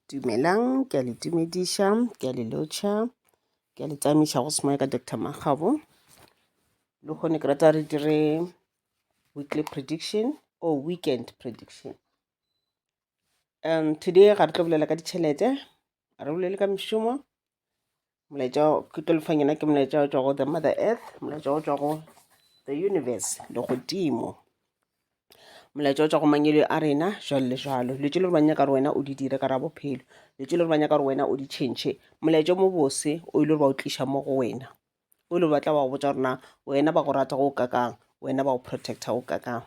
Dumelang, ke a le tumediša, ke a le lotšha, ke a le tsamisa go semoya ka Dr. Makgabo. Le kgone ke rata re dire weekly prediction or weekend prediction. Um, today ga re tlo bolela ka ditšhelete, ga re bolele ka mešomo, molaetša ke tlo lefang yena ke molaetša o tšwa go the mother earth molaetša o tšwa go the universe le godimo molaetša o tšwa go mangele a rena jalo le jalo dilo tše le ba nyaka gore wena o di dire ka ra bophelo dilo tše le ba nyaka gore wena o di tšhentšhe molaetša mo bose o ile gore ba o tliša mo go wena o ile batla wa go botsa gore na wena ba go rata go kakang wena ba go protecta go kakang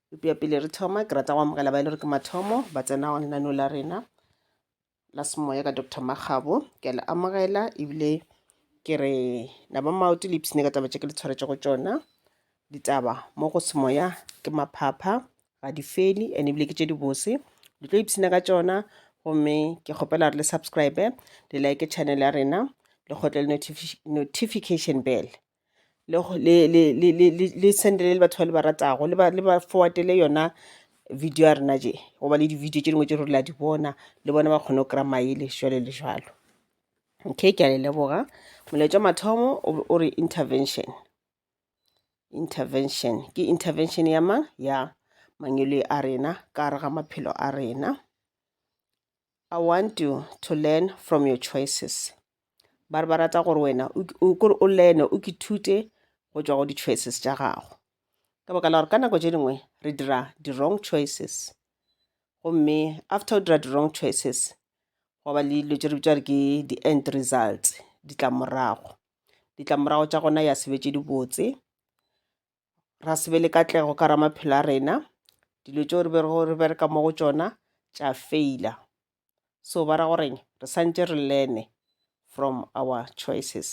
epea pele re thoma ke rata go amogela ba e le gore ke mathomo ba tsena lenaneo la rena la semoya ka dr makgabo ke a le amogela ebile ke re la ba maoto le ipsene ka taba tše ke le tshwaretše go tšona ditaba mo go semoya ke maphapha ga di feli and ebile ke tše dibose le tlo ipsene ka tšona gomme ke kgopela re le subscribe le like channel ya rena le kgotle le notification bell le sendele le batho ba le ba ratago le ba forwardele yona video ya rena je goba le di-video tše dingwe tše re la di bona le bona ba kgone go kry-a maele jalo le jalo okay ke a le leboga molaetša mathomo o re intervention intervention ke intervention ya mang ya mangwele a rena ka gare ga maphelo a rena I want you to learn from your choices. Ba re ba rata gore wena kore o learne o ke thute go tšwa go di-choices tša gago. Ka baka la gore ka nako tše dingwe re dira di-wrong choices. Gomme after o dira di-wrong choices, go ba le dilo tše re bitša gore ke di-end results, ditlamorago. Ditlamorago tša gona ya sebetše dibotse, ra se be le katlego ka ra maphelo a rena dilo tšeo re berego re bereka mo go tšona tša feila so ba ra goreng re santše re learne from our choices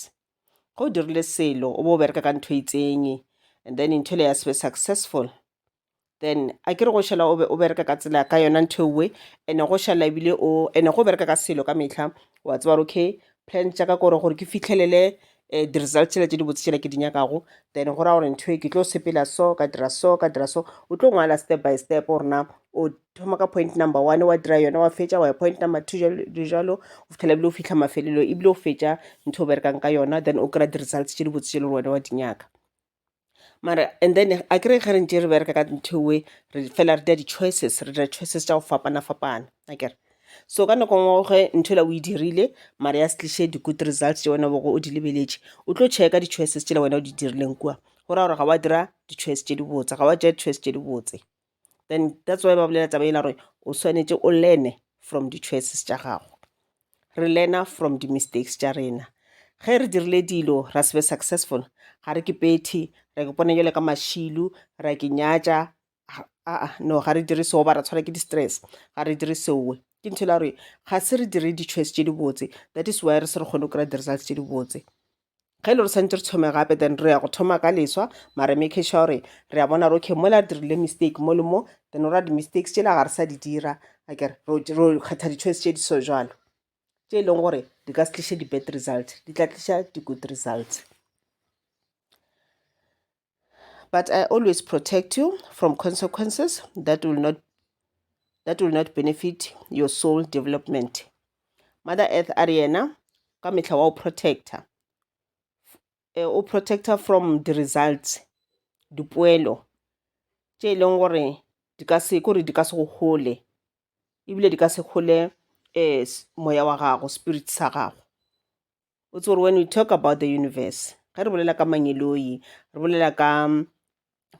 ge o dirile selo o bo o bereka ka ntho e itseng and then ntho le ya sebe successful then a ke re go šala o be o bereka ka tsela ka yona ntho ewe ene go šala ebile o ene go bereka ka selo ka mehla wa tseba gore okay plan tša ka kore gore ke fihlelele um di-result tšela tše di botse tšela ke di nyakago then go raya gore ntho e ke tlo sepela so ka dira so ka dira so o tlo ngwala step by step gore na o thoma ka point number one wa dira yona wa fetša wa ya point number two jalo le jalo go fitlhela ebile o fitlha mafelelo ebile o fetša ntho o berekang ka yona then o kry-a di-results tše di botse tše le gore wena wa di nyaka mara and then akere ge re ntše re bereka ka nthwe re fela re dira di-choices re dira choices tša go fapana-fapana akere so ka nako ngwe ge ntho ela o e dirile mara ya se tliše di-good results tše wena o bego o di lebeletše o tlo checka di-choices tšela wena o di dirileng kua go raya gore ga wa dira di-choice tše dibotse ga wa tšea di-choice tše dibotse. then that's why ba bolela taba ela gore o swanetše o learne from di-choices tša gago re learna from di-mistakes tša rena ge re dirile dilo ra se be successful ga re ke pethe ra ke pone jale ka mašilu ra ke nyatša aa no ga re dire seo ba ra tshwara ke di-stress ga re dire seowe ke ntho e la gore ga se re dire di-choice tše dibotse that is why re se re kgone go kry-a di-results tše dibotse ge le re santse re thome gape then re ya go thoma ka leswa mare make sure gore re a bona gore okay mola re dirile mistake mo le mo then ora di-mistakes tšela ga re sa di dira akere ro kgetha di-choice tše di so jalo tše e leng gore di ka se tliše di-bad result di tla tliša di-good result But I always protect you from consequences that will not that will not benefit your soul development. Mother Earth a re yena ka mehla wa o protector. Eh, o protector from the results, dipoelo tše e leng gore di ka se kore di ka se go gole ebile di ka se gole um moya wa gago spirit sa gago o tse gore when we talk about the universe ge re bolela ka mangeloi re bolela ka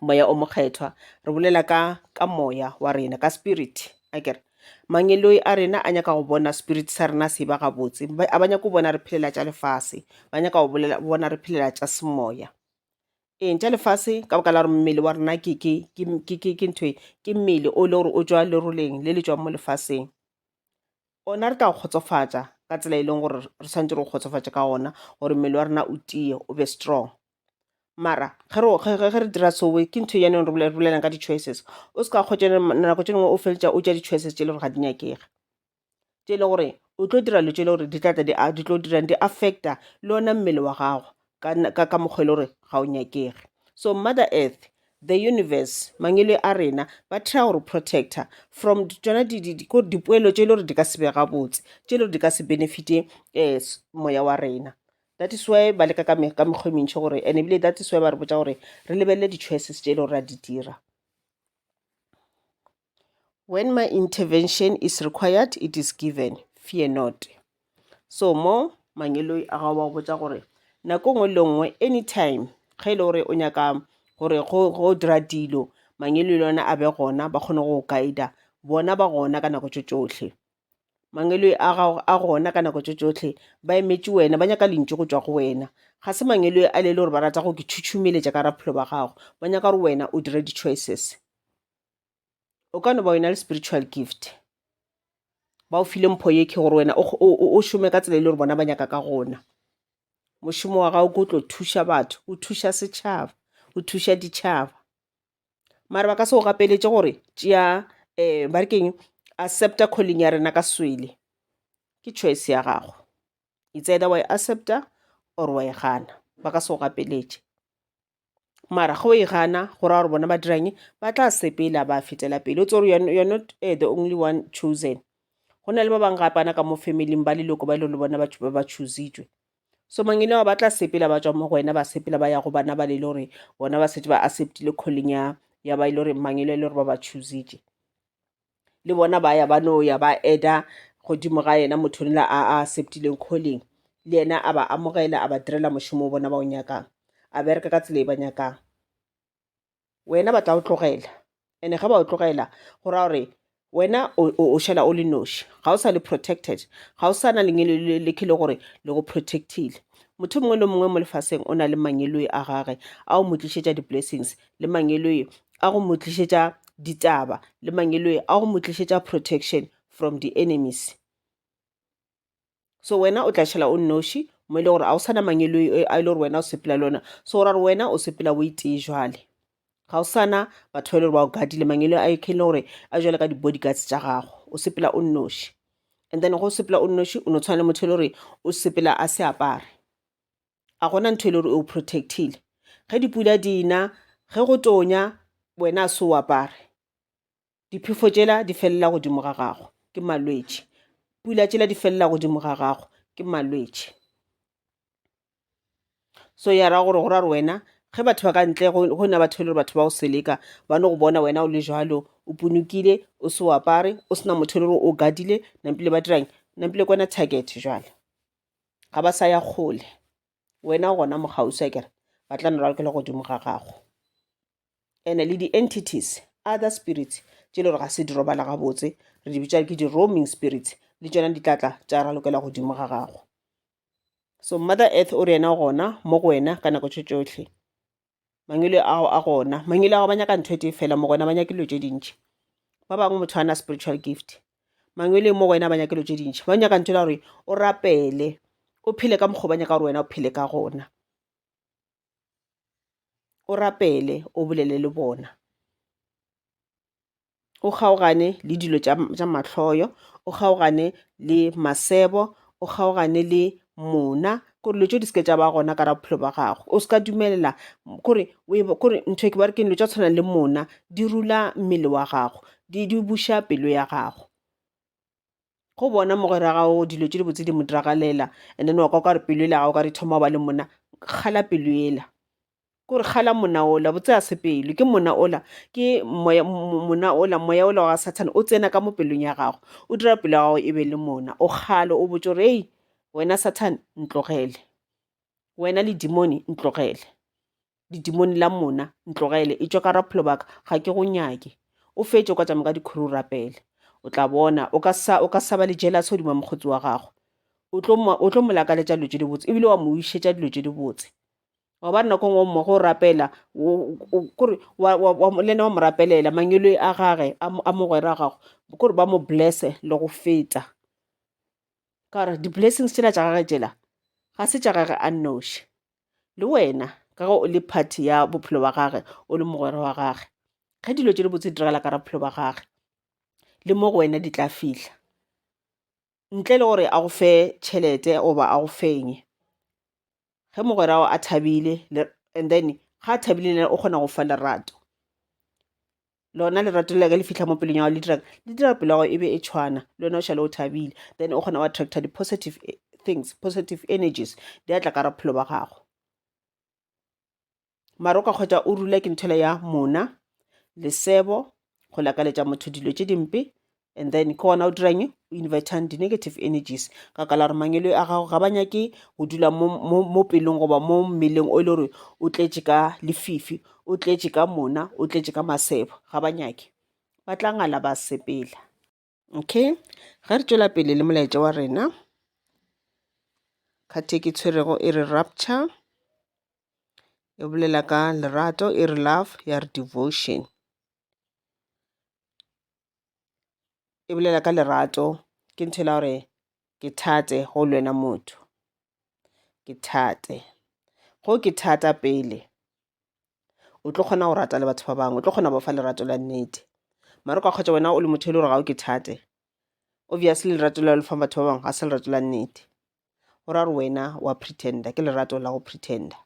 moya o mokgethwa re bolela ka ka moya wa rena ka spirit a kere mangeloi a rena a nyaka go bona spirit sa rena se ba gabotse a ba nyaka go bona re phelela tša lefase ba nyaka go bona re phelela tša semoya eng tša lefase ka baka la gore mmele wa rena ke ke ke ke ke ke ntho ke mmele o le gore o tswa leroleng le le tswang mo lefaseng Gona re tla go kgotsofatša ka tsela e leng gore re swanetše re go kgotsofatše ka gona, gore mmele wa rena o tiye, o be strong. Mara ge re, ge, ge, ge re dira so, ke ntho e ya neng re bole, re bolelang ka di-choices. O se ka kgotša ne, ma, nako tše dingwe o feleletša o tša di-choices tše e le gore ga di nyakege, tše e le gore o tlo dira dilo tše e le gore di tla tla di a, di tlo dirang, di affect-a le ona mmele wa gago. ka ka mokgwa e le gore ga o nyakege so mother earth the universe mangwele a rena ba try go re protector from tsona dipoelo tše e le gore di ka se be gabotse tše e le gore di ka se benefite um moya wa rena that is why ba leka ka mekgwa e mentšhi gore and ebile that is why ba re botsa gore re lebelele di-choices tše e le gore ra di dira When my intervention is required, it is given. Fear not. So mo mangeloi a gago ba go botsa gore nako nngwe le nngwe anytime ge e le gore o nyaka gore go dira dilo mangeloi le ona a be gona ba kgone go guide bona ba gona ka nako tše tšohle mangeloi a gago a gona ka nako tše tšohle ba emetše wena ba nyaka lentšu go tšwa go wena ga se mangeloi a le le gore ba rata go ke tšhutšhumeletša ka raphelo ba gago ba nyaka gore wena o dire di-choices o ka no ba wena le spiritual gift ba o file mpho ye ke gore wena o šome ka tsela e le gore bona ba nyaka ka gona mošomo wa gago ke o tlo thuša batho o thuša setšhaba o thuša ditšhaba mare ba ka se go gapeletše gore tšea um ba re keng accepta calling ya rena ka swele ke choice ya gago it's either wa e accepta or wa e gana ba ka se go gapeletše mara ge o e gana go raya gore bona ba dirang ba tla sepela ba fetela pele o tsere you're not uh, the only one chosen go na le ba bangwe gapana ka mo family ba leloko ba e le gore bona batho ba ba choositswe so mangele wa ba tla sepela ba tswa mo go wena ba sepela ba ya go bana ba le le gore bona ba setse ba acceptile calling ya ya ba e le gore mangele e le gore ba ba choositše le bona ba ya ba no ya ba eda godimo ga yena motho nela a a acceptileng calling le yena a ba amogela a ba direla mošomo o bona ba o nyakang a bereka ka tsela e ba nyakang wena ba tla o tlogela ene ge ba o tlogela go raya gore wena o šala o le noši ga o sa le protected ga o sa na lengelo le le khele gore le go protectile motho mongwe le mongwe mo lefaseng o na le mangeloe a gage a o mo tlišetša di-blessings le mangeloi a go mo tlišetša ditaba le mangeloi a go mo tlišetša protection from the enemies so wena o tla šhela o nnoši mo e le gore ga o sana mangeloi a e le gore wena o sepela le ona so o ra gore wena o sepela o itee jwale ga o sana batho ba e le gore ba o gadile mangeloi a e le gore a jwale ka di-body guards tša gago o sepela o nnoši and then go sepela o nnoši o no tshwana le motho e le gore o sepela a se apare a gona ntho e le gore o protectile ge dipula di na ge go tonya wena a se o apare diphefo tšela di felela godimo ga gago ke malwetši pula tšela di felela godimo ga gago ke malwetši so ya ra gore go ra re wena ge batho ba ka ntle go na batho e le gore batho ba o seleka ba no go bona wena o le jalo o punokile o se o apare o sena motho e le gore o gadile nampile ba dirang nampile kwana target jale ga ba sa ya kgole wena gona mogausa kere ba tla no ralokela godimo ga gago ene le di-entities other spirits tše le gore ga se di robala gabotse re di bitša ke di-roaming spirits le tšona di tlatla tša ralokela godimo ga gago so mother earth o re yena gona mo go wena ka nako tše tšotlhe mangwele ao a gona mangwele ao ba nyaka ntho e tee fela mo gona ba nyake dilo tše dintšhi ba bangwe motho a na spiritual gift mangwele mo go ena ba nyake dilo tše dintšhi ba nyaka ntho la gore o rapele o phele ka mokgwa ba nyaka gore wena o phele ka gona o rapele o bolele le bona o kgaogane le dilo tša mahloyo, o kgaogane le masebo, o kgaogane le mona kore dilo tšeo di seke tša ba gona ka ra bophelo ba gago o seka dumelela kore kore ntho e ke bare ke dilo tša tshwanang le mona di rula mmele wa gago di di buša pelo ya gago. go bona mogwera gago dilo tše dibotse di mo diragalela and then wa kwa ka re pelo ele gago ka re thoma go ba le monna kgala pelo ela ke gore kgala monna ola botse a se pelo ke monna ola ke moya monna ola moya ola wa sathane o tsena ka mo pelong ya gago o dira pelo ya gago e be le monna o kgale o botse gore ei wena sathane ntlogele wena le dimone ntlogele didimoni la mona ntlogele e tšwa ka ra bophelo baka ga ke go nyake o fetše o ka tšama ka dikhuru o rapele o tla bona o ka sa o ka sa ba le jealous godimo mokgotsi wa gago o tlo mo o tlo mo lakaletša dilo tše di botse ebile wa mo išetša dilo tše di botse wa ba nako ngwe mo go rapela kore le ena wa mo rapelela mangelo a gage a mogwera gago kore ba mo blesse le go feta ka gore di-blessings tsela tša gage tsela ga se tša gage a nnoši le wena ka ge o le party ya bophelo wa gage o le mogwera wa gage ge dilo tše di botse diragala ka ra bophelo wa gage le mo go wena di tla fihla ntle le gore a go fe tšhelete goba a go fenye ge mogwera a thabile and then ga a thabile le o kgona go fa lerato lona lerato la ka le fitlha mo pelong ya gago le dirang le dira pelo ya gago e be e tshwana le wena o šale o thabile then o kgona wa attracta di-positive eh, things positive energies di atla ka raphelo ba gago mara o ka kgwetsa o rula ke nthwela ya mona lesebo go lakaletša motho dilo tše dimpe and then ke gona o dirang o invertang di-negative energies ka kala gore mangelo a gago ga ba nyake go dula mo, mo, mo pelong goba mo mmeleng o e le gore o tletše ka lefifi o tletše ka mona o tletše ka masebo ga ba nyake ba tla ngala ba sepela okay ge re tšwela pele le molaetša wa rena kgathe ke tshwerego e re rapture e bolela ka lerato e re love ya re devotion e bolela ka lerato ke ntho ela gore ke thate go le wena motho ke thate go ke thata pele o tlo kgona go rata le batho ba bangwe o tlo kgona go fa lerato la nnete mara o ka kgotsa wena o le motho e le gore ga o ke thate obviously lerato la lefang batho ba bangwe ga se lerato la nnete go ra gore wena wa pretender ke lerato la go pretender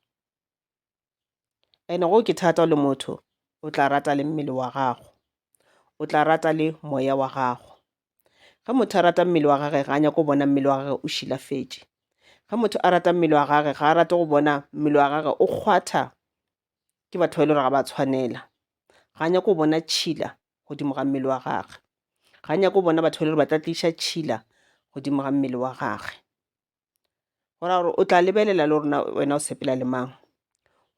Ene go ke thata o le motho o tla rata le mmele wa gago, o tla rata le moya wa gago. Ge motho a rata mmele wa gage ga a nyako bona mmele wa gage o šilafetše. Ge motho a rata mmele wa gage ga a rate go bona mmele wa gage o kgwatha ke batho ba e le gore ga ba tshwanela. Ga a nyako bona tšhila godimo ga mmele wa gage, ga a nyako bona batho ba e le gore ba tla tliša tšhila godimo ga mmele wa gage. go raya gore o tla lebelela le rona wena o sepela le mang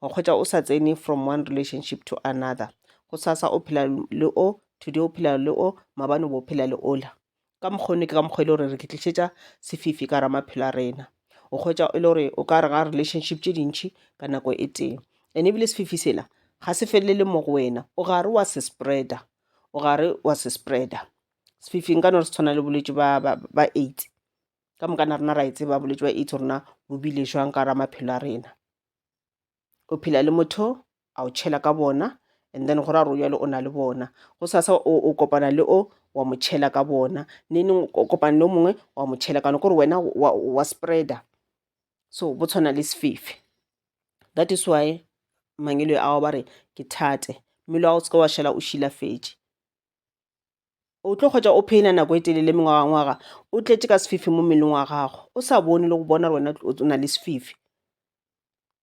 wa kgwetsa o sa tsene from one relationship to another go sasa o phela le o today o phela le o mabane bo phela le ola ka mokgwa one ke ka mokgwa e le gore re ke tlišetša sefifi ka ra maphelo a rena o kgwetsa e le gore o ka re ga relationship tše dintšhi ka nako e tee and ebile sefifi sela ga se felele mo go wena o gare wa se spreader o gare wa se spreader sefifing ka no re se tshwana le bolwetse ba AIDS ka moka na rena ra e tseba bolwetši wa aids rena bo bile jwang ka ra maphelo a rena o phela le motho a o tšhela ka bona and then go ra gore jalo o na le bona go sasa o kopana le o wa mo tšhela ka bona neneng o kopana le o mongwe wa mo tšhela ka gore wena wa, wa spreader so bo tshwana le sefefe that is why mangelo ao ba re ke thate mmele wa go se ka wa šala o šilafetše O tlo hwetša o phena nako e telele mengwagangwaga o tletše ka sefifi mo mmeleng wa gago o sa bone le go bona gore wena o na le sefifi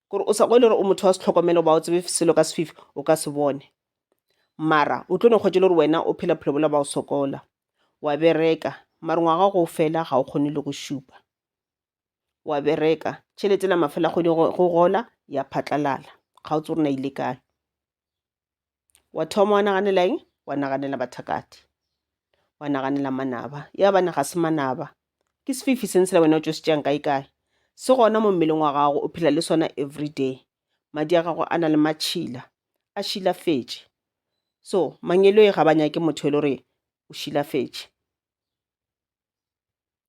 gore o sa go e le gore o motho wa setlhokomelo ba o tsebe selo ka sefifi o ka se bone mara o tlo no kgwetše le gore wena o phela bophelo bola ba o sokola wa bereka mare ngwaga go fela ga o kgone le go šupa wa bereka tšhelete la mafela kgwedi go gola ya phatlalala ga o tse gore na ile kae wa thoma wa naganela eng wa naganela bathakati wa naganela manaba ya bana ga se manaba ke sefifi se ntsela wena o tso se tšeang kae kae se gona mo mmeleng wa gago o phela le sona every day madi a gago a na le matšhila a šilafetše so mangelo e ga ba nyake motho e le gore o šilafetše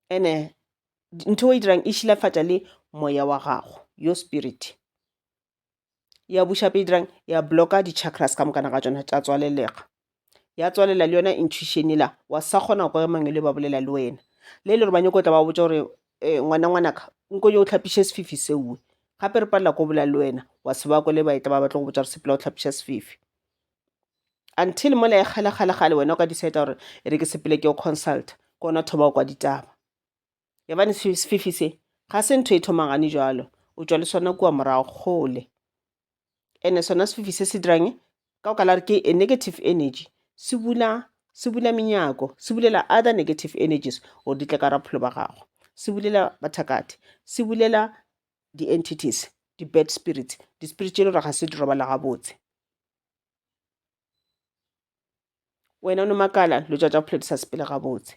ene ntho e dirang e šilafatša le moya wa gago your spirit ya buša pele dirang ya blocka di-chakras ka mokana ga tšona tša tswalelega ya tswalela le yona intuition ela wa sa kgona go kwa mangwe le ba bolela le wena le le gore ba nyako tla ba botsa gore eh, ngwana ngwanaka nko yo o tlhapiše sefifi seoe gape re palela ko bolela le wena wa se ba kole ba etla ba batla go botsa gore sepela o tlhapiša sefifi until mola e kgale kgale kgale wena o ka decide gore e re ke sepele ke o consult ke ona thoba o kwa ditaba Yabane sefifi se ga se ntho e thomagane jalo, o tšwa le sona kua morago kgole. Ene sona sefifi se se dirang ka o ka la re ke a negative energy, se bula se bula menyako, se bulela other negative energies gore di tle ka rapholo ba gago. Se bulela bathakati, se bulela di-entities, di-bad spirits, di-spirit tše e le gore ga se di robala gabotse. wena o no makala lo tša tša bophelo di sa sepele gabotse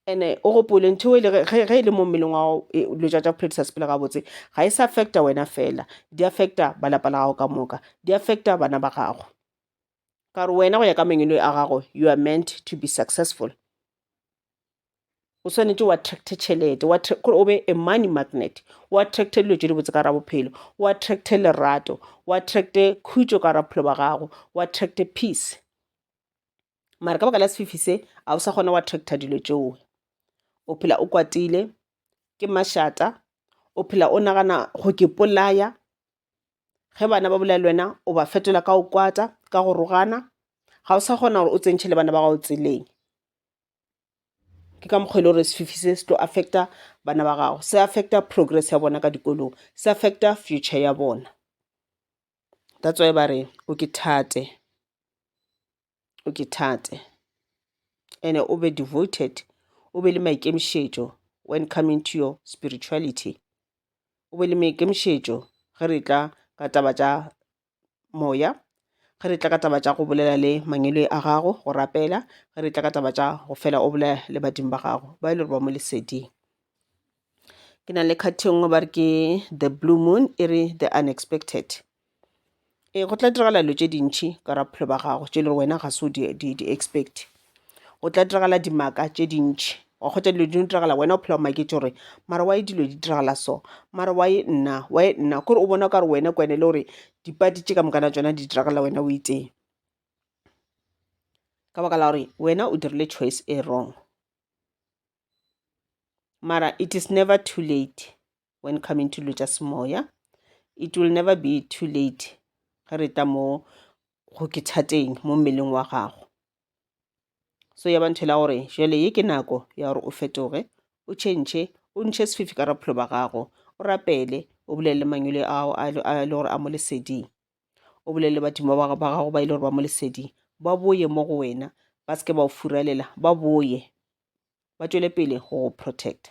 ene o gopole ntho e le ge e le mo mmeleng wa gago e, lo tša tša bophelo di sa sepele gabotse ga e sa affecta wena fela di affecta ba lapa la gago ka moka di affecta bana ba gago ka gore wena go ya ka mengwelo a gago you are meant to be successful o swanetše o attracte tšhelete gore o be a money magnet o attracte dilo tše dibotse ka ra bophelo o attracte lerato o attracte khutšo ka ra bophelo ba gago o attracte peace mara ka baka la sefifi se ga o sa kgona go attracta dilo tšeo o phela o kwatile ke mašata o phela o nagana go ke polaya ge bana ba bolela le wena o ba fetola ka o kwata ka go rogana ga o sa kgona gore o tsentšhe le bana ba gago tseleng ke ka mokgwa e le gore sefifi se se tlo affecta bana ba gago se affecta progress ya bona ka dikolong se affecta future ya bona that's why ba re o ke thate o ke thate and-e o be devoted o be le maikemišetšo when coming to your spirituality o be le maikemišetšo ge re tla ka taba tša moya, ge re tla ka taba tša go bolela le mangwele a gago, go rapela, ge re tla ka taba tša go fela o bolela le badimo ba gago ba e le gore ba mo leseding. Ke na le card e nngwe ba re ke The Blue Moon e re The Unexpected. Ee go tla diragala dilo tše dintšhi ka ga bophelo ba gago tše e le gore wena ga se o di expect-e. go tla diragala dimaka tše dintšhi wa kgotsa dilo di no diragala wena o phela o maketse gore mara wa e dilo di diragala so mara wa e nna wa e nna kore o bona o ka re wena kwene le gore dipadi tše ka mokana tsona di diragala wena o itee ka baka la gore wena o dirile choice e wrong mara it is never too late when coming to dilo tša semoya it will never be too late ge re tla mo go ke thateng mo mmeleng wa gago so ya ba nthela gore jale ye ke nako ya gore o fetoge o tšhentšhe o ntšhe sefifi ka rapholo ba gago o rapele o bolelele mangwele ao a le gore a mo leseding o bolelele badimo ba gago ba e le gore ba mo leseding ba boye mo go wena ba se ke ba o furalela ba boye ba tšwele pele go protecta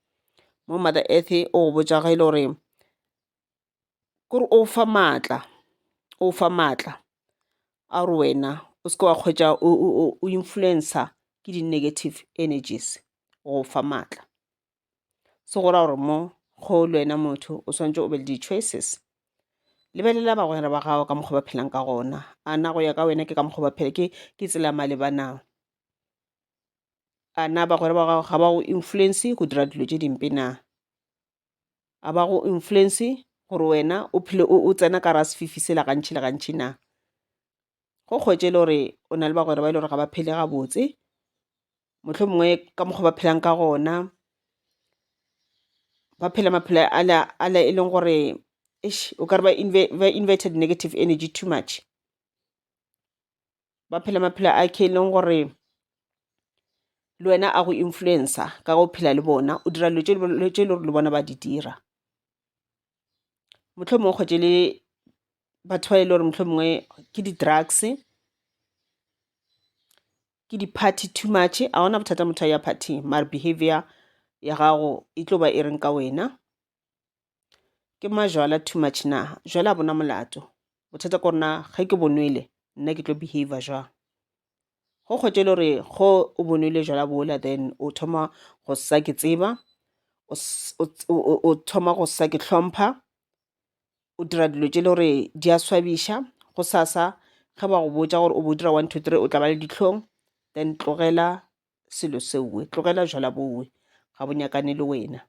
mo mother earth o go botša ge e le gore kore o fa maatla o fa maatla a gore wena o seke wa kgwetša o influencer ke di negative energies o fa maatla. Se go raya gore mo go le wena motho o swanetše o be le di choices, lebelela bagwera ba gago ka mokgwa ba phelang ka gona, a na go ya ka wena ke ka mokgwa ba phela ke tsela ya maleba na. a na bagwera ba gago ga ba go influence go dira dilo tše dimpe na? A ba go influence gore wena o phele o tsena ka gare ga sefifi sela gantšhi le gantšhi na? Go kgwetše e le gore o na le bagwera ba e le gore ga ba phele gabotse, mohlomongwe ka mokgwa o ba phelang ka gona ba phela maphelo a e leng gore eish o ka re ba invited negative energy too much. ba phela maphelo a e leng gore le wena a go influencer ka go phela le bona o dira dilo tše e le gore le bona ba di dira. Mohlomongwe o kgwetše le batho ba e le gore mohlomongwe ke di-drugs, ke di-party too much, ga gona bothata motho a ya party mare behavior ya gago e tlo ba e reng ka wena. ke majwala too much na jwale a bona molato bothata ko rena ge ke bonwele nna ke tlo behavior jwang go kgwetše le gore go o bonwele jwala bola then o thoma go sa ke tseba o thoma go sa ke hlompha o dira dilo tše le gore di a swabiša go sasa ge ba go botša gore o bo dira one two three o tla ba le ditlhong then tlogela selo seowe tlogela jwala bowe ga bo nyakane le wena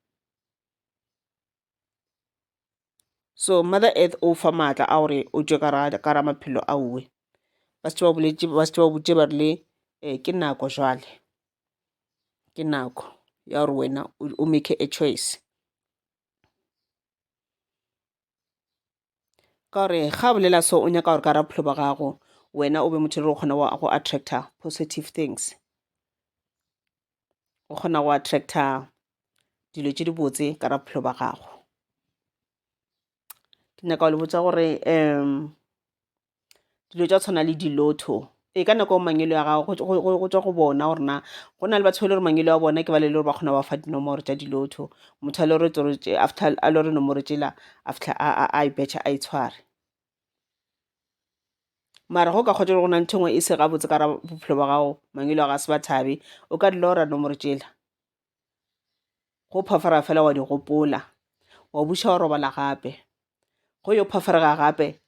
so mother earth o fa maatla a gore o tšwe ka ra maphelo a uwe ba se ba botse ba rile um ke nako jwale ke nako ya gore wena o make a choice ka gore ga bolela so o nyaka gore ka ra bophelo ba gago wena o be motho le o kgona go attractor positive things o kgona go attractor dilo tše dibotse ka ra bophelo ba gago ke nyaka go le botsa gore um dilo tša tshwana le di-lotto ee ka nako mangwele a gago go tswa go bona gore na go na le batho ba le gore mangwele a bona ke ba le gore ba kgona go ba fa dinomoro tša di-lotto motho a le gore after a le gore nomoro tsela after a e betšha a e tshware mara go ka kgotsa gore go na le nthongwe e se gabotse ka ra bophelo ba gago mangwele a ga se ba thabe o ka di lora nomoro tsela go phofara fela wa di gopola wa buša wa robala gape go yo phofarega gape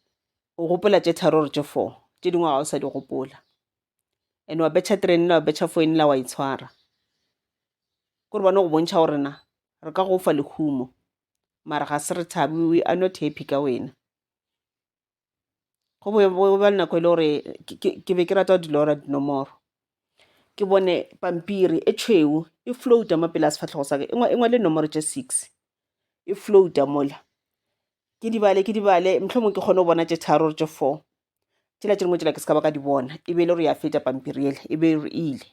o gopola tše tharo gore tše four tše dingwe ga o sa di gopola and wa betšha train la wa betšha foine la wa itshwara e ke re bone go bontšha gore na re ka go fa lehumo mara ga se re thabe we are not happy ka wena go be go ba le nako e le gore ke be ke rata go di lora dinomoro ke bone pampiri e tšhweu e float-a mo pele ga sefahlego sa ka e ngwale nomoro tše six e float-a mola ke di bale ke di bale mohlomong ke kgone go bona tše tharo or tše four tšela tše dingwe tšela ke se ka ba ka di bona e be e le gore ya feta pampiri ele e be e re ile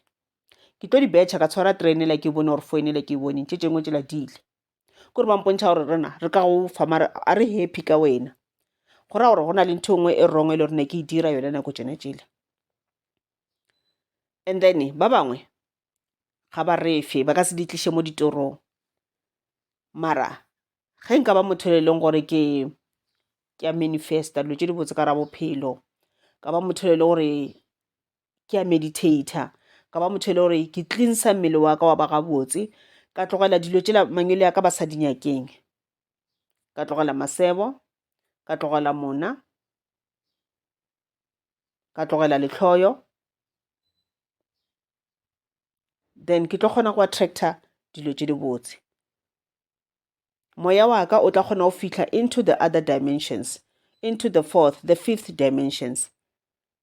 ke tlo di betšha ka tshwara train ela ke bone gore founela ke e boneng tše tše dingwe tšela di ile ke gore ba mpontšha gore rena re ka go fa mara a re happy ka wena go ra gore go na le ntho e nngwe e wrong e le gore ne ke e dira yone nako tsone tsele and then ba bangwe ga ba refe ba ka se di tliše mo ditorong mara ge nka ba motho e leng gore ke ke a manifesta dilo tse di botse ka ra bophelo ka ba motho e le gore ke a meditator ka ba motho e le gore ke cleansa mmele wa ka wa ba gabotse ka tlogela dilo tšela mangwele ya ka ba sa di nyakeng ka tlogela masebo ka tlogela mona ka tlogela lehloyo then ke tlo kgona go attractor dilo tše dibotse moya wa ka o tla kgona go fihla into the other dimensions into the fourth the fifth dimensions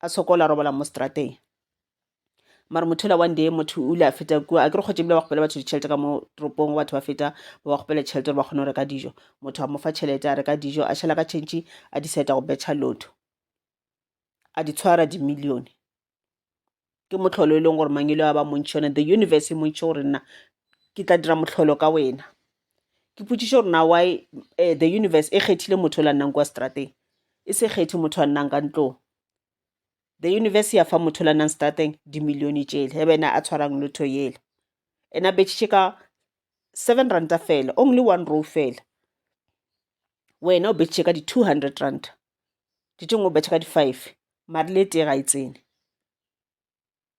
a sokola robala mo strateng mara motho ola one day motho o ile a feta kua a ke re kgotse ebile ba kgopela batho ditšhelete ka mo toropong go batho ba feta ba ba kgopela tšhelete gore ba kgone go reka dijo motho a mo fa tšhelete a reka dijo a šhala ka tšhentšhi a decide go betšha lotho a di tshwara dimillione ke mohlolo e leng gore mangelo a ba montšhi one the universe e montšhi gore nna ke tla dira mohlolo ka wena ke potšiše gore na why um the universe e kgethile motho o la nnang kwa strateng e se kgethe motho a nnang ka ntlong the universe ya fa motho o la nnang strateng dimillione tšele ge bena a tshwarang lotho yele ena betšhitše ka seven ranta fela only one row fela wena o betšhitše ka di-two hundred ranta tšetšeng o betšha ka di-five mare le tee ga e tsene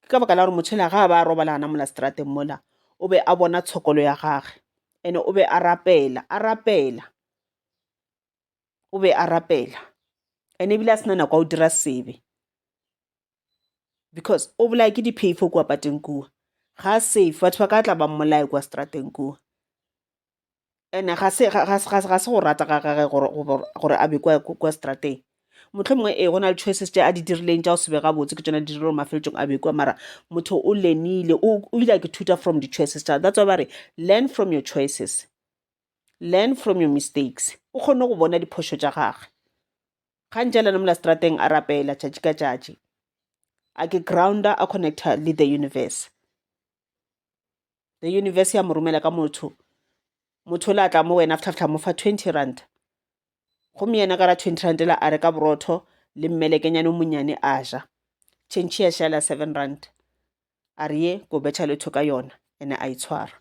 ke ka baka la gore motho ela ga a ba a robalana mola strateng mola o be a bona tshokolo ya gage and o be a rapela a rapela o be a rapela and ebile a sena nako ya go dira sebe because o bolaya ke diphei fo kua pateng kua ga safe batho ba ka tla ba mmolaye kua strateng kua ene ga se go rata ga gage gore a be kwa strateng motlho mongwe ee go na le choices tše a di dirileng tša go sebe gabotse ke tsona di dirile gore mafeletsong a bekwa mara motho o lenile o ile a ke thuta from di-choices tsa that's why ba re learn from your choices learn from your mistakes o kgone go bona diphošo tša gage gantši a lena mola strateng a rapela tšatši ka tšatši a ke grounder a connecta le the universe the universe ya mo romela ka motho motho o le a tla mo wena ftlhaftlha mo fa twenty rand gomme yena ka ra twenty rand la a reka borotho le mmelekenyane o monnyane a ja tšhentšhi ya šala seven rand a re ye ko betšha letho ka yona ene a itshwara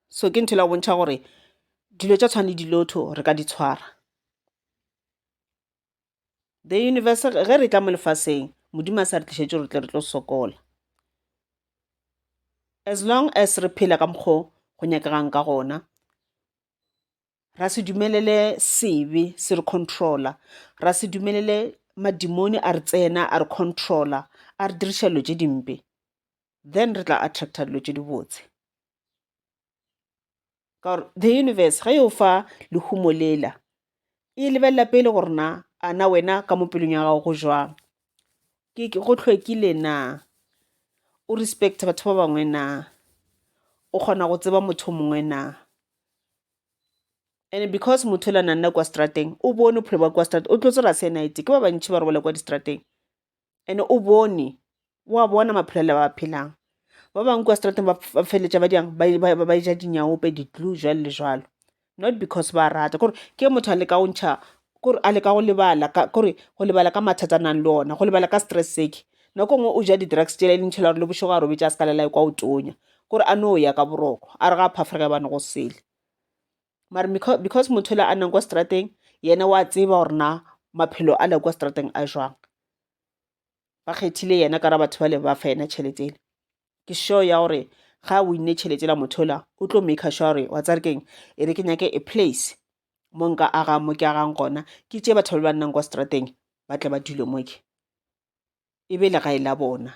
so ke ntho la go bontšha gore dilo tša tshwane le dilotho re ka di tshwara the universe ge re tla mo lefaseng modimo a sa re tlišetše gore tle re tlo sokola as long as re phela ka mokgwa go nyakegang ka gona ra se dumelele sebe se re controla ra se dumelele madimoni a re tsena a re controla a re diriša dilo tše dimpe then re tla attracta dilo tše dibotse ka gore the universe ge e o fa lehumo lela e lebelela pele gore na a na wena ka mo pelong ya gago go jwang ke go tlhwekile na o respect batho ba bangwe na o kgona go tseba motho mongwe na and because motho la nanna kwa strateng o bone bophelo ba kwa strateng o tlo tsera se night ke ba bantšhi ba robala kwa distrateng ene o bone o a bona maphelo le ba phelang ba bangwe kwa strateng ba feleletša ba diang ba e ja dinyaope di-glue jwalo le jwalo not because ba rata kore ke motho a leka go ntšha kore a leka go lebala kore go lebala ka mathata a nang le ona go lebala ka stress sake nako ngwe o ja di-drugs tšela e leng tšhela gore le bošego a robetša a se ka lela kwa o tonya kore a no ya ka boroko a re ga a phafa re ka bane go sele mara because motho le a nnang kwa strateng yena wa tseba gore na maphelo a le kwa strateng a jwang ba kgethile yena ka ra batho ba le ba fa yena tšhelete ele ke show ya gore ga a winne tšhelete la motho la o tlo make sure gore wa tsare keng e re ke nyake a place mo nka agang mo ke agang gona ke tše batho ba ba nnang kwa strateng ba tle ba dule mo ke e be legae la bona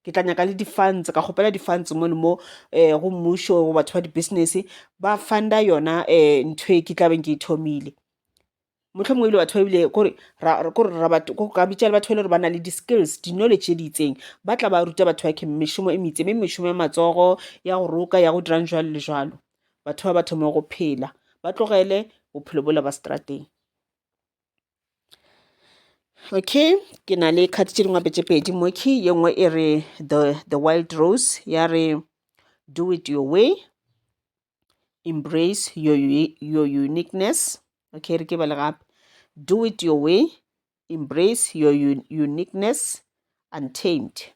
ke tla nyaka le di-funds ka kgopela di-funds mono mo um go mmušo go batho ba di-business ba funda yona um ntho e ke tlabeng ke e thomile motlho mongwe ebile batho ba ebile kore ka bitša le batho ba e le gore ba na le di-skills di-knowledge tse di itseng ba tla ba ruta batho ba ke mešomo e metse mme mešomo ya matsogo ya go roka ya go dirang jalo le jalo batho ba ba thoma go phela ba tlogele bophelo bola ba strateng okay ke na le card tše dingwe tše pedi mo key ye nngwe e re the, the wild rose ya re do it your way embrace your, your uniqueness okay re ke bale gape do it your way embrace your un uniqueness untamed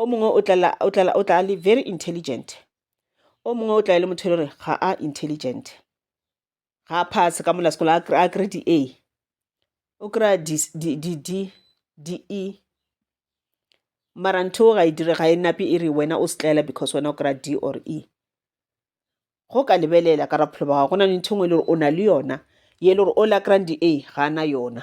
o mongwe o tlala o tlala o tla le very intelligent o mongwe o tla e le motho e le gore ga a intelligent ga a pass ka mola sekolo a kry di-a o kry-a di-d di-e mara ntho ga e dire ga e nape e re wena o setlaela because wena o kry-a d or e go ka lebelela ka bophelo ba gago go na le ntho e nngwe e le gore o na le yona ye e le gore o la kry-ang di-a ga a na yona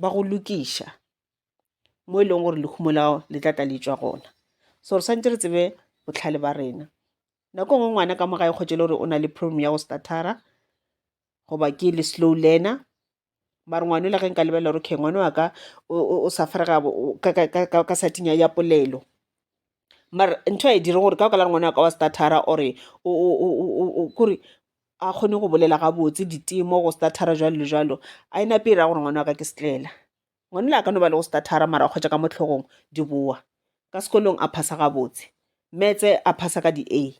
ba go lokiša mo e leng gore lehumo la gago le tla tla le tšwa gona so re santse re tsebe botlhale ba rena nako e nngwe ngwana ka mo ga e kgotse e le gore o na le problem ya go statara goba ke le slow learner mare ngwane o la ge nka lebelela gore okay ngwana wa ka o suffer ka sathing ya polelo mare ntho a e dire gore ka baka la gore ngwana wa ka wa statara or-e kore a kgone go bolela gabotse ditemo go starter jwalo le jwalo a e nape e ra gore ngwana wa ka ke setlela ngwana le a ka no ba le go starter mara go kgwetša ka mohlogong di boa ka sekolong a phasa gabotse metse a phasa ka di-a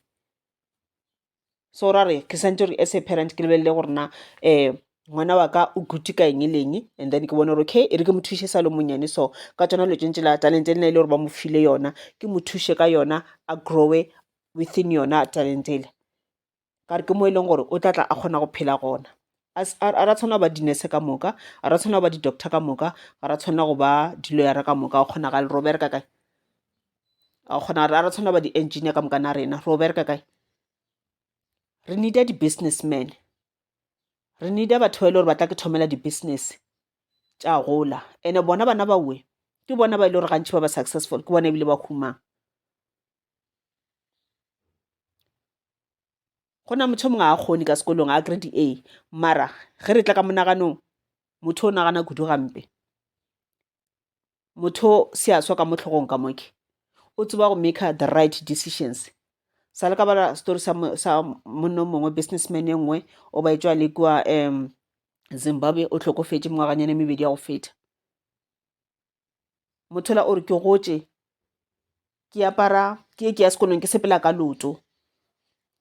so ra re ke santse gore as a parent ke lebelele gore na um ngwana wa ka o good ka eng le eng and then ke bone gore okay e re ke mo thuše sa le monnyane so ka tsona dilo tšentse la talente le na e le gore ba mo file yona ke mo thuše ka yona a growe within yona talente ele gare ke mo e leng gore o tla tla a kgona go phela gona a ra tshwana go ba dinese ka moka a ra tshwana go ba di-doctor ka moka ga ra tshwana go ba diloyara ka moka o kgona ga le robere ka kae a kgona a ra tshwana go ba di-engineer ka moka na rena robere ka kae re needa di-businessman re needa batho ba e le gore ba tla ke thomela di-business tša gola and-e bona bana baue ke bona ba e le gore gantšhi ba ba successful ke bona ebile ba humang go na motho o mongwe a kgone ka sekolong a grade A mara ge re tla ka monaganong motho o nagana kudu gampe. Motho se a swa ka mo hlogong ka mo ke o tseba go maker the right decisions sa le ka bala story sa monna o mongwe business man e nngwe o ba etšwa le kua Zimbabwe o hlokofetše mengwaganyana e mebedi ya go feta. mothola o re ke gotše ke apara ke ye ke ya sekolong ke sepela ka loto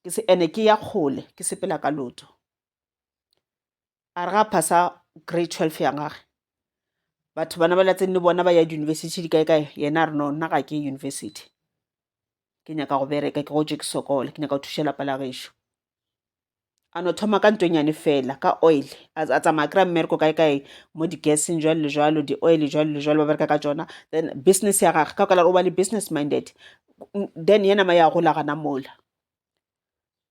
ke se ene ke ya kgole ke sepela ka loto a re ga phasa grade twelve ya gage batho bana ba latseng le bona ba ya diyunibesithi di kae kae yena a re no nna ga ke yunibesithi ke nyaka go bereka ke gotše ke sokole ke nyaka go thuša lapa la gešo a no thoma ka nto nyane fela ka oil a tsamaya kry-a mmereko kae kae mo di-gaseng jwalo le jwalo di-oil jwalo le jwalo ba bereka ka tsona then business ya gage ka kwala o ba le business minded then ye nama ya gola gana mola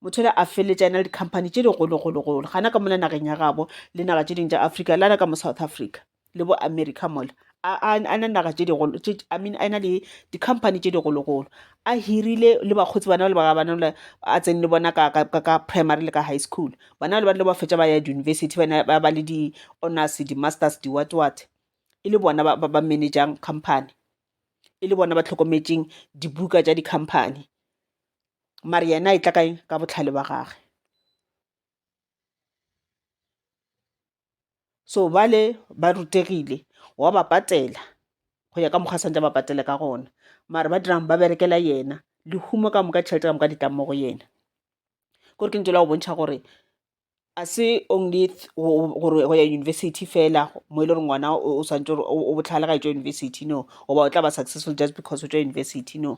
motho le a feletša ena le di-company tše digologologolo gana ka mona nageng ya gabo le naga tše dingwe tša africa le ana ka mo south africa le bo america mola a na naga tše digolo i mean a na le di-company tše digologolo a hirile le bakgotsi bana le ba bana le a tsene le bona ka primary le ka high school bana le ba le ba fetša ba ya di-university bana ba ba le di-honors di-masters di-what what e le bona ba managing company e le bona ba tlhokometseng dibuka tša di-company mare yena e tla kae ka bohlale ba gage. so bale ba rutegile wa ba patela go ya ka mokgwa santse ba patele ka gona mare ba dirang ba berekela yena lehumo ka moka tšhelete ka moka di tlang mo go yena kore ke ntse la go bontšha gore a se only gore go ya university fela mo e le gore ngwana o swantse gore o botlhale ga e tswa university no goba o tla ba successful just because o tswa university no.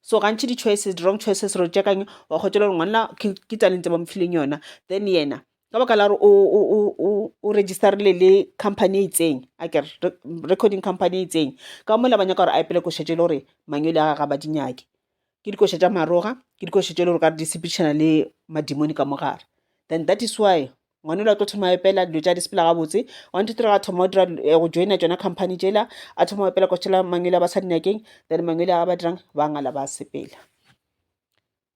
so gantši di-choices di-wrong choices re tša kang wa kgotšela gore ngwanna ke talente ba mofileng yona then yena ka baka la gore o registerile le company e itseng a kere recording company e itseng ka mola ba nyaka gore a epele košetše e le gore mangwele a ga ba di nyake ke dikoša tša maroga ke dikoša tše e le gore ka re di sepedišana le madimone ka mo gare then that is why ngwanelo a tlo thoma epela dilo tša di sepela gabotse one two three ga thoma dira eh, go joina tšona company tšela a thoma epela ko tšhela mangwele a ba sa dinakeng then mangwele a ba dirang ba ngala ba sepela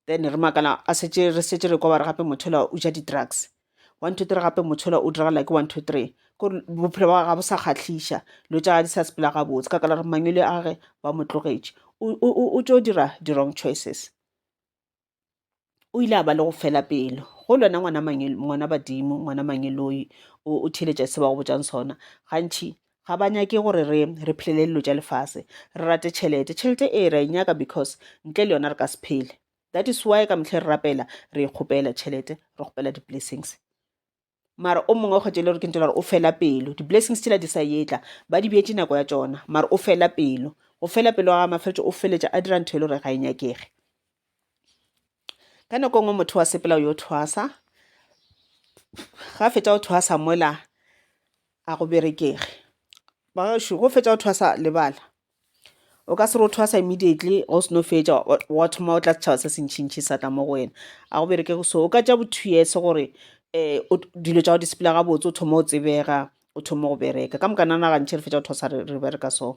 then re makala a setse re setse re kwa ba re gape mothola o ja di-drugs one two three gape mothola o diragala ke one two three ko bophelo ba ga bo sa kgatlhiša dilo tša ga di sa sepela gabotse ka kala re mangwele a ge ba mo tlogetše o tšo dira di-wrong choices o ile a ba le go fela pelo go lona ngwana ngwana badimo ngwana mangeloi o theletša se ba go botšang sona gantšhi ga ba nyake gore re re phelele dilo tša lefase re rate tšhelete tšhelete e ra e nyaka because ntle le yona re ka se phele that is why ka metlhe re rapela re kgopela tšhelete re kgopela di-blessings mara o mongwe kgwetso e le gore ke ntse gore o fela pelo di-blessings tšela di sa etla ba di bjetse nako ya tsona mara o fela pelo go fela pelo ga mafeletso o feletša a dira ntho e le gore ga e nyakege ka nako e nngwe motho wa sepela yo thwasa ga fetsa go thwasa mola a go berekege bagašo go fetsa go thwasa lebala o ka se re o thwasa immediately ga o seno fetša wa thoma o tla setšhaba se sentšhintšhi sa tla mo go wena a go bereke go so o ka tša bo two years gore um dilo tša go disepela gabotse o thoma o tsebega o thoma go bereka ka moka nana gantšhe re fetša go thwasa re bereka so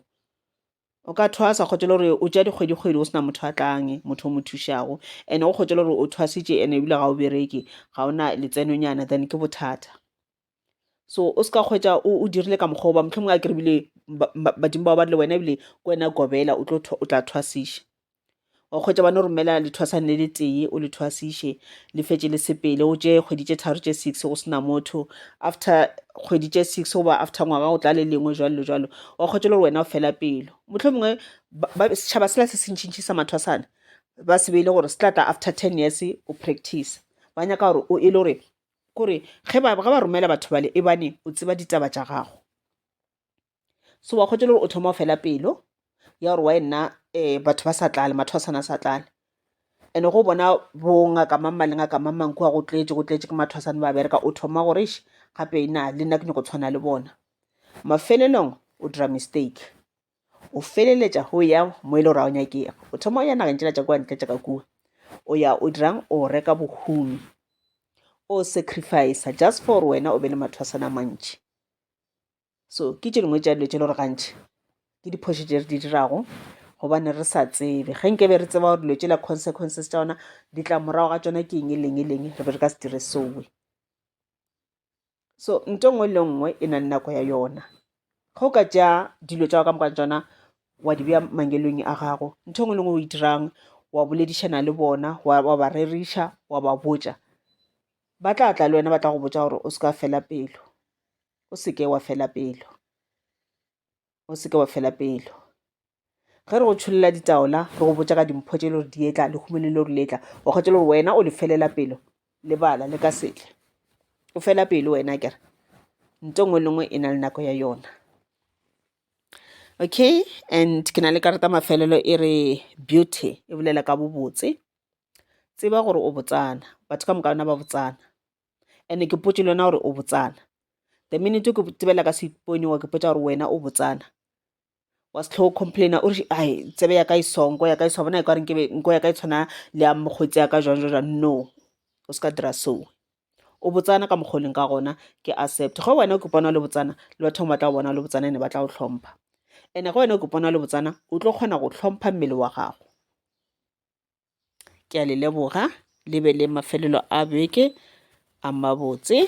o ka thwasa kgotse le gore o tša dikgwedikgwedi go sena motho a tlange motho o mo thušago and go kgotse le gore o thwasitše and ebile ga o bereke ga o na letsenonyana then ke bothata so o se ka kgwetsa o dirile ka mokgwa oba mohlomongwe a kere bile badimo bao ba rile wena ebile ke wena kobela o tla thwasiša wa kgwetsa bane o romela lethwasane le le tee o le thwasiše le fetse le sepele o tše kgwedi tše tharo tše six go sena motho after kgwedi tše six goba after ngwaga o tla le lengwe jwalo le jwalo wa kgwetsa le gore wena o fela pelo mohlomongwe setšhaba sela se se ntšhintšhi sa mathwasane ba se beile gore se tla tla after ten years o practice ba nyaka gore o e le gore kore ge ba ge ba romela batho bale ebane o tseba ditaba tša gago so wa kgotšela gore o thoma o fela pelo ya gore wa e nna um batho ba sa tlale matho a sana sa tlale and-e go bona bongaka mang mang le ngaka mang mang kua go tletše go tletše ke matho a sane ba bereka o thoma gore eš gape na le nna ke nyako tshwana le bona mafelelong o dira mistake o feleletša go ya mo e le gore ga o nyakega o thoma o ya nageng tsela tša kwa ntle tša ka kua o ya o dirang o reka bohumi o sacrifice just for gore wena o be le mathwasana mantši so ke tše dingwe tša dilo tše le gore gantšhi ke diphošo tše re di dirago gobane re sa tsebe ge nke be re tseba gore dilo tše la consequences tša ona di tla morago ga tsona ke eng e leng e leng re be re ka se dire sowe. so nto nngwe le nngwe e na le nako ya yona go ka tša dilo tša go ka moka tsona wa di bja mangelong a gago ntho e nngwe le nngwe o e dirang wa boledišana le bona wa ba reriša wa ba botša ba tla tla le wena ba tla go botša gore o se ka fela pelo o seke wa fela pelo o seke wa fela pelo ge re go tšholela ditaola re go botša ka dimpho tše le gore di etla lehumeng le le gore le etla o kgwetše le gore wena o le felela pelo le bala le ka setle o fela pelo wena kere nto nngwe le nngwe e na le nako ya yona okay and ke na le karata mafelelo e re beauty e bolela ka bobotse tseba gore o botsana batho ka moka ona ba botsana ene ke potše le wena gore o botsana the minute ke tsebela ka seponyoka ke potsa gore wena o botsana wa se tlhogo complaina o re ai tsebe ya ka e song nko ya ka e song bona e ka gore nkebe nko ya ka e tshwana le ya mokgwetsi ya ka jwang jwang jwang no o se ka dira so o botsana ka mokgwa o leng ka gona ke accept ge wena o ke bona le botsana le batho ba tla go bona le botsana ene ba tla go tlhompha ene ge wena o ke bona le botsana o tlo kgona go tlhompha mmele wa gago ke a le leboga le be le mafelelo a beke a mabotse.